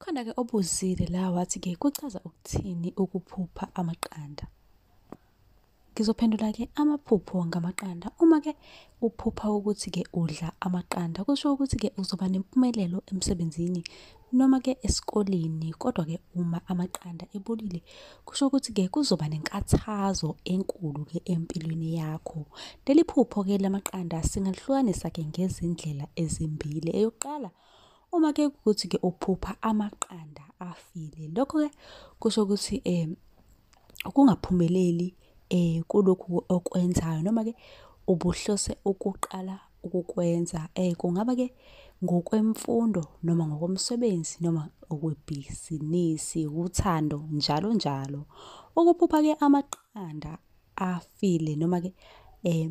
Khona-ke obuzile la wathi-ke kuchaza ukuthini ukuphupha amaqanda. Ngizophendula-ke amaphupho ngamaqanda. Uma-ke uphupha ukuthi-ke udla amaqanda, kusho ukuthi-ke uzoba nempumelelo emsebenzini noma-ke esikoleni. Kodwa-ke uma amaqanda ebolile, kusho ukuthi-ke kuzoba nenkathazo enkulu-ke empilweni yakho. Leli phupho-ke lamaqanda singalihlukanisa-ke ngezindlela ezimbili. Eyokuqala, Uma ke ukuthi ke uphupha amaqanda afile lokho ke kusho ukuthi eh ukungaphumeleli eh kulokhu okwenzayo noma ke ubuhlose ukuqala ukukwenza eh kungaba ke ngokwemfundo noma ngokomsebenzi noma okwebhizinisi uthando njalo njalo ukuphupha ke amaqanda afile noma ke eh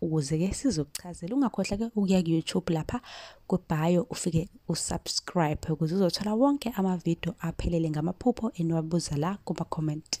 ukuze ke sizokuchazela ungakhohlwa ke ukuya ku YouTube lapha ku bio ufike u subscribe ukuze uzothola wonke ama video aphelele ngamaphupho eniwabuza la kuma comment